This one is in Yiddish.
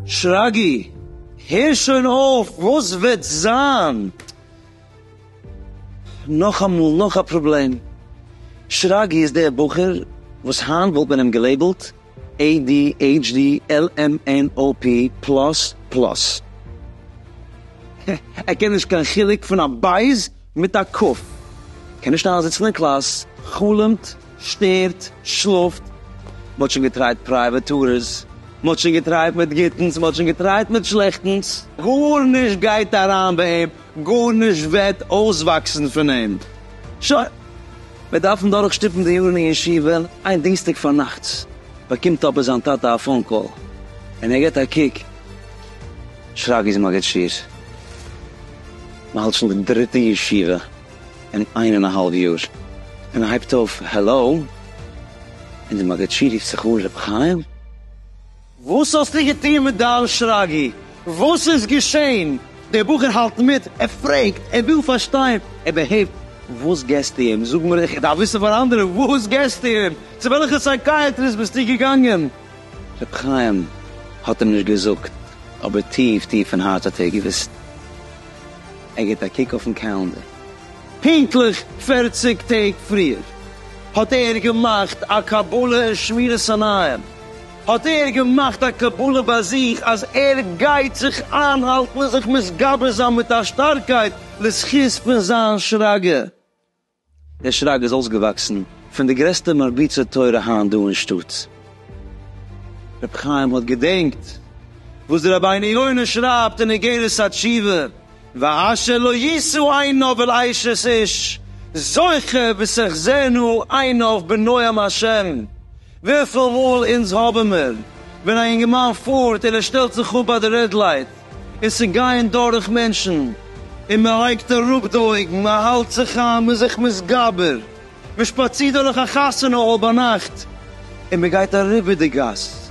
שרגי, הער שוין אויף, וואס וועט זיין? נאכאמאל נאך א פראבלעם, שרגי איז דער בחור וואס היינט וואלט מען אים געלעיבלט adhd lmnop פלאס פלאס. ער קען נישט קיין חילוק פון א בית מיט א ק. קען נישט איינזיצן אין קלאס, חלומ'ט, שטערט, שלאפט. מ'האט שוין געטרייט פרייוועט טורס, מ'האט שוין געטרייט מיט גוטנס, מ'האט שוין געטרייט מיט שלעכטנס. גארנישט גייט אריין ביי אים. גארנישט וועט אויסוואקסן פון אים. שוין, מיר דארפן דורכשטופן די יארן אין ישיבה. איין דינסטאג פארנאכטס באקומט אבער זיין טאטע א פאון קאל, און ער גיבט א קוק, שרגא איז מגיד שיעור. מען האלט שוין די דריטע ישיבה אין איין און א האלב יאר, און ער הייבט אויף העלאו, און דער מגיד שיעור רופט זיך אן רבי חיים. וואס האסטו געטון מיט דיין שרגי? וואס איז געשען? דער בחור האלט מיט, ער פרעגט, ער וויל פארשטיין, ער בעהבט, וואס געסטו אים? זאג מיר, איך דארף וויסן פאר אנדערע, וואס געסטו אים? צו וועלכע סייקייעטריסט ביסטו געגאנגען? ר' חיים האט אים נישט געזאגט, אבער טיף טיף אין הארץ האט ער געוואוסט. ער גיבט א קוק אויפן קאלענדער, פונקטליך פֿערציק טעג פריער האט ער געמאכט א קבלה אין שמירת עיניים, האט ער געמאכט א קבלה ביי זיך אז ער גייט זיך איינהאלטן און זיך מתגבר זיין מיט א שטארקייט לזכות פון זיין שרגא. דער שרגא איז אויסגעוואקסן פון די גרעסטע מרביצי תורה היינט דא אין שטאט. ר' חיים האט געדענקט וואס דער רבינו יונה שרייבט אין אגרת התשובה, ואשר לא ישאו עיניו אל עישת איש זוכה ותחזינה עיניו בנועם השם, וויפיל מאל אונז האבן מיר, ווען א אינגערמאן פארט און ער שטעלט זיך אפ ביי די רעד לייט, און ס'גייען דורך מענטשן, און מען לייגט אראפ די אויגן, מען האלט זיך איין, מען איז זיך מתגבר, מען שפאצירט דורך א חתונה האל ביינאכט, און מען גייט אריבער די גאס,